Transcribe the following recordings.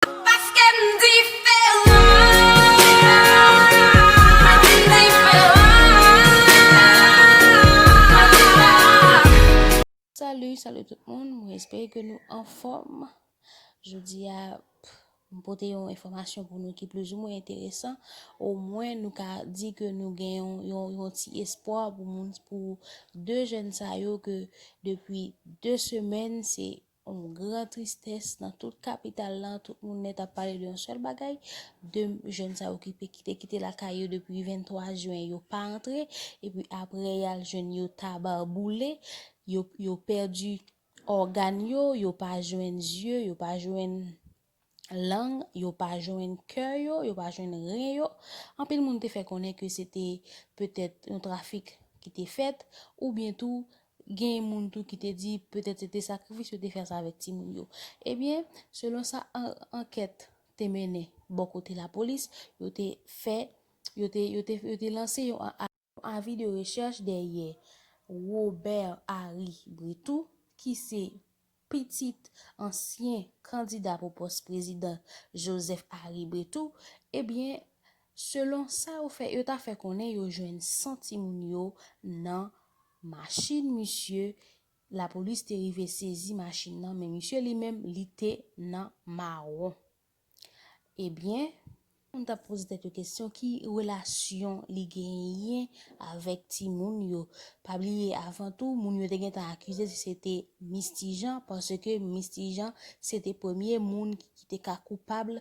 Paske m diferan. Salut, salut tout moun, mwen espere ke nou anfòm. Jodi a, m pote yon enfòmasyon pou nou ki plis ou mwen enteresan. O mwen nou ka di ke nou gen yon yon yon ti espwa pou moun pou 2 jèn sa yo ke depi 2 semèn se Yon gran tristès nan tout kapital lan, tout moun nèt ap pale de yon sèl bagay, de jèn sa yo ki te kite lakay yo depi 23 jwen yo pa antre, epi aprè y al jwenn yo taba boule, yo pèdi ògàn yo, yo pa jwenn zye, yo pa jwenn lang, yo pa jwenn kè yo, yo pa jwenn ren yo, anpil moun te fè konnen ke se te petèt yon trafik ki te fèt, oubyen tou gen moun tou ki te di petèt se te sakrifis yo te fè ansanm avèk timoun yo. Ebyen, selon sa ankèt te mennen bò kote lapolis, yo te fè, yo te lanse yon. Yon avi de rechèch dèyè Robert Harry Bretout ki se pitit ansyen kandida pou pòs prezidan Joseph Harry Bretout, ebyen selon sa yo fè, yo ta fè konnen yo jwenn san timoun yo nan machin misye, lapolis te rive sezi machin nan men misye li menm li te nan mawon. Ebyen, moun t ap poze tèt yo kesyon ki relasyon li genyen avèk timoun yo. Pa bliye avan tou, moun yo te gentan akize si se te Mis Ti Jan paske Mis Ti Jan se te premye moun ki te ka koupab,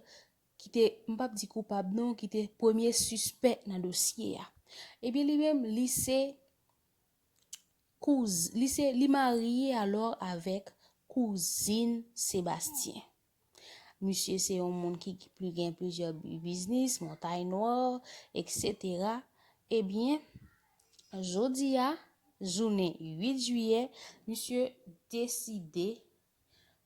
ki te, m p ap di koupab non, ki te premye sispè nan dosye a. Ebyen li menm li se kouz, li se, li marye alò avèk kouzin Sebastien. Misye se yon moun ki pli gen plizyè biznis, Montay Nwa, eksetera. Ebyen, jodi a, jounen 8 jiyè, misye deside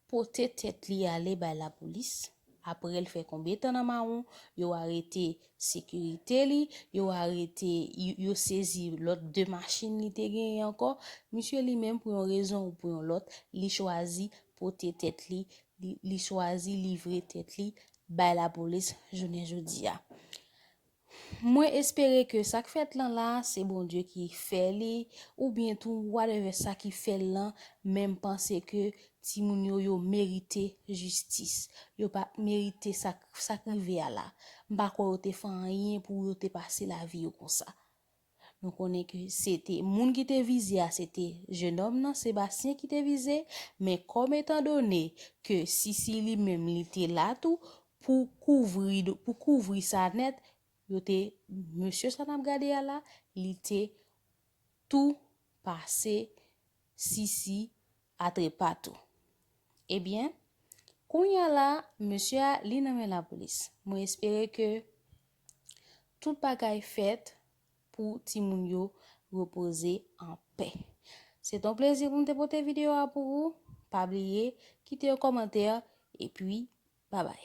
pote tèt li ale bay lapolis. Apre l fè konbe tan nan mawon, yo arete sekirite li, yo arete, yo sezi lòt 2 machin li te genyen ankò. Misye li menm pou yon rezon ou pou yon lòt, li chwazi pote tèt li, li chwazi livre tèt li bay lapolis jounen jodi a. Mwen espere ke sa k fèt lan la, se Bondye ki fè li, oubyen tou whatever sa ki fè l lan, men m panse ke timoun yo, yo merite jistis. Yo pa merite sa k rive a la. M pa kwè yo te fè anyen pou yo te pase lavi yo konsa. Nou konnen ke se te moun ki te vize a se te jenòm nan, Sebastien ki te vize, men kòm etan done ke Sisi li menm li te la tou pou kouvri pou kouvri sa nèt, yo te mesye sa n ap gade a la, li te tou pase Sisi a trepa tou. Ebyen, kounye a la, mesye a li nan men lapolis. Mwen espere ke Tout bagay fèt pou timoun yo repoze an pè. Se ton plezi pou m te pote video a pou ou. Pa bliye kite yo komantè epi babay.